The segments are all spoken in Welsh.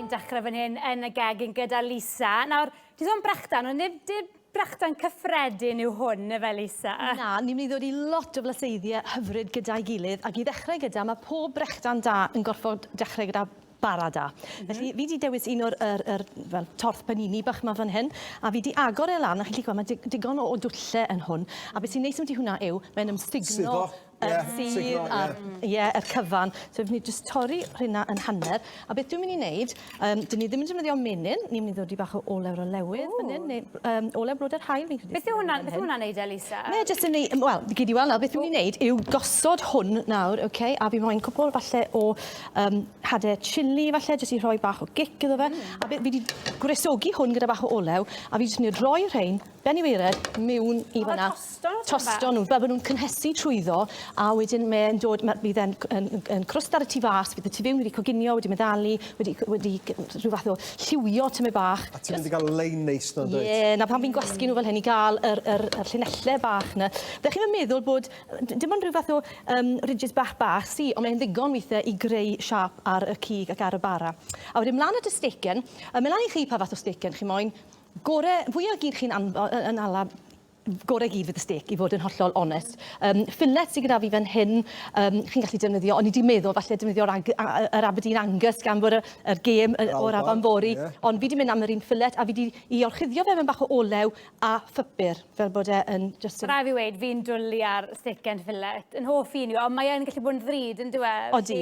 ni'n dechrau fan hyn yn y gegin gyda Lisa. Nawr, ti'n sôn brechdan, ond nid, nid brechdan cyffredin yw hwn, efe Lisa? Na, ni'n mynd i ddod i lot o flaseiddiau hyfryd gyda'i gilydd, ac i ddechrau gyda, mae pob brechdan da yn gorfod dechrau gyda bara da. Mm -hmm. Felly, fi wedi dewis un o'r er, er, well, torth panini bach yma fan hyn, a fi wedi agor e lan, a chi'n gallu gweld, mae digon o, o dwlle yn hwn. A beth sy'n neis am ti hwnna yw, mae'n ymstigno... Suddo. Ie signal ie. A'r ie yr cyfan. So fi jyst torri rheina yn hanner a beth dwi myn' i neud yym 'dyn ni ddim yn defnyddio menyn ni myn' i ddod i bach o olew ar y lewydd fan 'yn ne' yym olew blodau'r haul fi'n credu. Beth yw hwnna beth yw wnna'n neud Elisa? Mae e jyst yn neu- yym wel gei di weld nawr beth dwi myn' i neud yw gosod hwn nawr oce a fi moyn cwpwl falle o yym hade chilli falle jyst i rhoi bach o gic iddo fe. Hmm. A be' fi 'di gwresogi hwn gyda bach o olew a fi jyst myn' i roi rhein ben i waered miwn i fan 'na. tosto nhw fel bod nhw'n cynhesu trwyddo a wedyn mae'n dod, ma, bydd e'n yn, yn crwst ar y tu fas, bydd y tu fewn wedi coginio, wedi meddalu, wedi, wedi rhyw fath o lliwio tymed bach. A ti'n mynd i gael lein neis na dweud? Ie, na pan fi'n gwasgu nhw fel hyn i gael yr, yr, yr llinellau bach na. Fe chi'n meddwl bod, dim ond rhyw fath o um, ridges bach bach sy, ond mae'n ddigon weithiau i greu siap ar y cig ac ar y bara. A wedyn mlaen at y stecen, a meddwl i chi pa fath o stecen chi moyn, gore fwyaf gyd chi'n anfo, yn ala Gorau gyd fydd y stêc i fod yn hollol onest. Yym fillet sydd gyda fi fan hyn yym chi'n gallu defnyddio, o'n i 'di meddwl falle defnyddio'r Ang- a- a- yr Aberdeen Angus gan bod y yr gêm yy o'r Afon fory ie. ond fi 'di mynd am yr un fillet a fi 'di 'i orchuddio fe mewn bach o olew a phupur fel bod e yn jyst yn... Ma' rai' fi weud fi'n dwli ar steak and fillet. Yn hoff un yw e ond mae yn gallu bod yn ddrud yndyw e? Odi.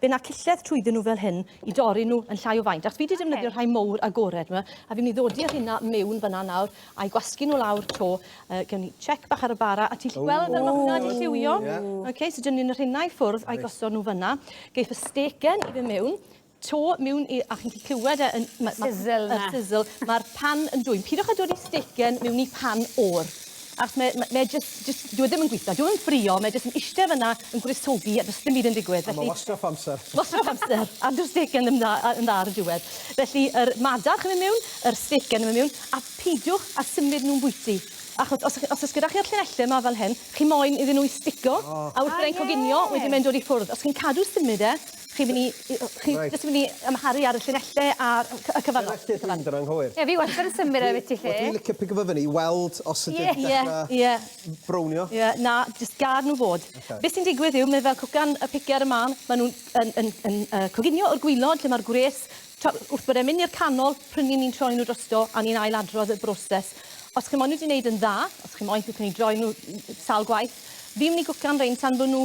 Fe na cilled trwyddyn nhw fel hyn i dorri nhw yn llai o faint. Ac fi wedi defnyddio okay. rhai mowr agored yma, a fi'n mynd i ddodi ar hynna mewn fyna nawr, a'i gwasgu nhw lawr to. Uh, gewn ni check bach ar y bara, a ti'n gallu gweld fel mae hwnna wedi lliwio. Yeah. Okay, so dyn ni'n rhennau i ffwrdd a'i gosod nhw fyna. Geith y stegen i fe mewn, to mewn i, a chi'n clywed e yn... Sizzle na. Sizzle. Mae'r pan yn dwy'n. Pidwch a dod i stegen mewn i pan o'r. Achos mae, mae, mae just, just, dyw e ddim yn gweithio, dyw e ddim yn ffrio, mae jyst yn eistedd fyna yn gwristogi a does dim byd yn digwydd. Felly... A mae wastraff amser. Wastraff amser, a dyw'r stick yn dda, yn dda ar y diwedd. Felly, yr madarch yn mynd mewn, yr stick yn mynd mewn, a peidiwch a symud nhw'n bwyty. Achos os, os oes gyda chi'r llinellau yma fel hyn, chi moyn iddyn nhw i stico, oh. a wrth byddai'n coginio, wedyn mae'n dod i ffwrdd. Os chi'n cadw symud e, Chi'n myn' i i o- chi... Reit. ...jyst yn myn' i amharu ar y llinelle a'r yym cy- y cyfan... Llinelle ti'n mynd yn anghywir. Ie fi wastad yn symud e am biti 'lly. Wel dwi'n licio pigo fe fyny i weld os ydi'n dechra... Ie ie ie. ...m- brownio. Ie na jyst gad n'w fod. Oce. Be' sy'n digwydd yw mae fel cwcan y pice ar y man ma' nw'n yn yn yn yy coginio o'r gwilod lle ma'r gwres t'o' wrth bod e'n myn' i'r canol pry' 'yn ni'n troi n'w drosto a ni'n ail adrodd y broses. Os chi moyn n'w 'di neud yn dda os chi moyn chi myn' i droi n'w n- n- sawl gwaith fi'n myn' i gwcan rein tan bo' n'w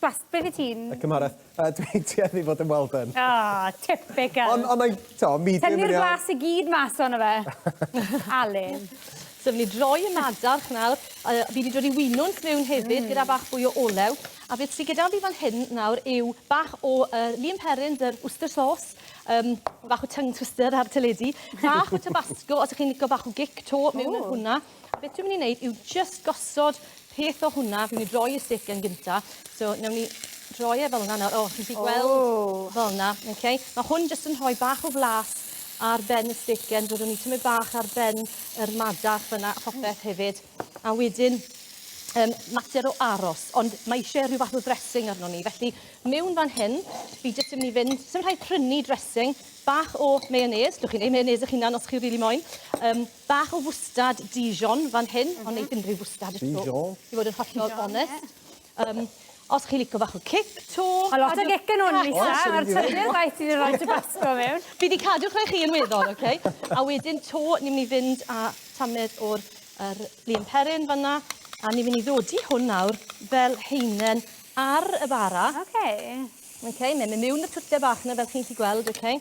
Blas, be fi ti'n... Y cymhareth. Yy dwi'n tueddu fod yn well done. O, typical. Ond ond mae'n, t'o', medium yn iawn. Tynnu'r blas i gyd mas ono fe. Alun. So fi myn' i droi y madarch nawr a yy fi 'di dod i winwns miwn hefyd... Hmm. ...gyda bach fwy o olew a beth sy gyda fi fan hyn nawr yw bach o yy Lea and Perrins yr Worcester sauce yym ma' bach o tongue twister ar teledu bach o tabasco os 'ych chi'n lico bach o gic 'to miwn yn hwnna. A beth dwi'n mynd i wneud yw just gosod peth o hwnna. Dwi'n mynd i droi y stick yn gynta. So, newn ni droi e fel yna nawr. O, chi'n gallu gweld... O! Fel yna, oce? Ma' hwn jyst yn rhoi bach o flas ar ben y stick and byddwn ni tymyd bach ar ben yr madarch fyna a phopeth hefyd. A wedyn um, mater o aros, ond mae eisiau rhyw fath o dressing arno ni. Felly, mewn fan hyn, fi jyst yn mynd i fynd, sy'n rhaid prynu dressing, bach o mayonnaise, dwch chi'n ei mayonnaise eich hunan os chi'n rili really moyn, um, Bach o fwstard Dijon fan hyn, ond neith unrhyw fwstard eto. Dijon. I fod yn hollol onest. Yym, os chi'n lico bach o cic 'to. Ma' lot o gic yn 'wn, Lisa, a'r trydydd waith ti 'di roi tabasco mewn. Fi 'di cadw rhai chi yn weddol, oce? A wedyn 'to, ni myn' i fynd â tamed o'r yr Lea & Perrine fan 'na, a ni myn' i ddodi hwn nawr fel haenen ar y bara. Oce. Oce, mae'n myn' miwn y twlle bach 'na fel chi'n 'llu gweld, oce?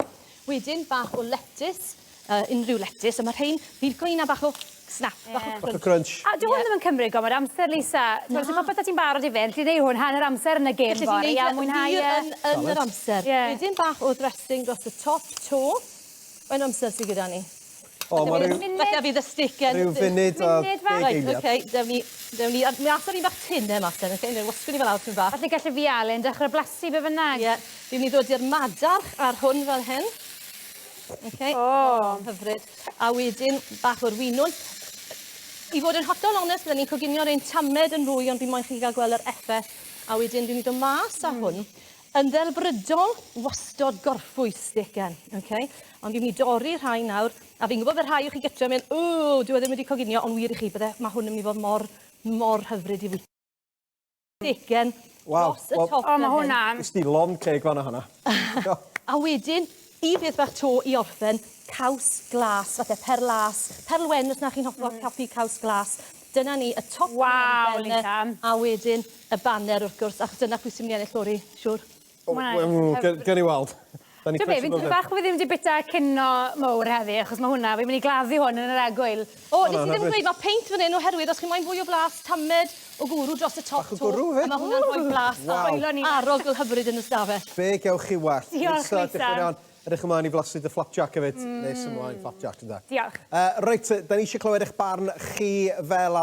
Wedyn bach o letys, yy unrhyw letys, a ma' rhein, fi'n credu 'na bach o snap, bach o crunch. Bach o crunch. A dyw hwn ddim yn cymryd gormod o amser Lisa. Na. T'mod so popeth 'da ti'n barod i fynd, ti'n neu' hwn hanner amser yn y gêm fory a mwynhau e. Gallet ti neud e yn wir yn yr amser. Ie. Wedyn bach o dressing dros y top 'to. Faint o amser sy gyda ni? O, ma' ryw... Falle fydd y stick yn... Ryw funud a deg eiliad. Reit, oce, dewn ni, dewn ni... Mi ath yr un bach tynn 'na mas 'den, oce? Newn ni wasgu ni fe lawr tym bach. Falle gelle fi a Alun dechre blasu be' bynnag. Ie, fi myn' i ddod i'r madarch ar hwn fel hyn. Oce. O! Hyfryd. A wedyn bach o'r winwns. I fod yn hollol onest bydden i'n coginio rein tamed yn fwy ond fi moyn chi ga'l gwel' yr effeth. A wedyn fi myn' i do' mas â hwn. Yn ddelfrydol, wastod gorffwys degen, ok? Ond fi'n mynd i dorri rhai nawr, a fi'n gwybod fe rhai o chi gytre yn mynd, ww, dyw e ddim wedi coginio, ond wir i chi, bydde, mae hwn yn mynd i fod mor, mor hyfryd i fwyta. Degen, dros y top fel hyn. O, mae hwnna'n... Ysdi lond ceg fan'na honna. A wedyn, Y peth bach to i orffen, caws glas, fatha perl las, perl wen os na chi'n hoffi mm. coffi caws glas. Dyna ni, y top wow, yn ben, a wedyn y banner wrth gwrs, achos dyna pwy sy'n mynd i ennill lori, siwr. Oh, well, gyrr i weld. Dwi'n beth, fi'n bach bod fi ddim wedi bita cino mowr heddi, achos mae hwnna, fi'n mynd i gladdu hwn yn yr egwyl. O, nes i ddim gweud, ma' peint fan hyn oherwydd os chi moyn fwy o blas, tamed o gwrw dros y top 'to. Bach o gwrw 'fyd? A ma' hwnna'n rhoi blas dda. Waw. Coelio ni. Arogl hyfryd yn y stafell. Be' gewch chi wallt? Diolch Lisa. Diolch Lisa. Iawn. Edrych ymlaen i flasu dy flapjac efyd. Mm. Nes ymlaen flapjac ynde? Diolch. Yy reit, 'dan ni isie clywed eich barn chi fel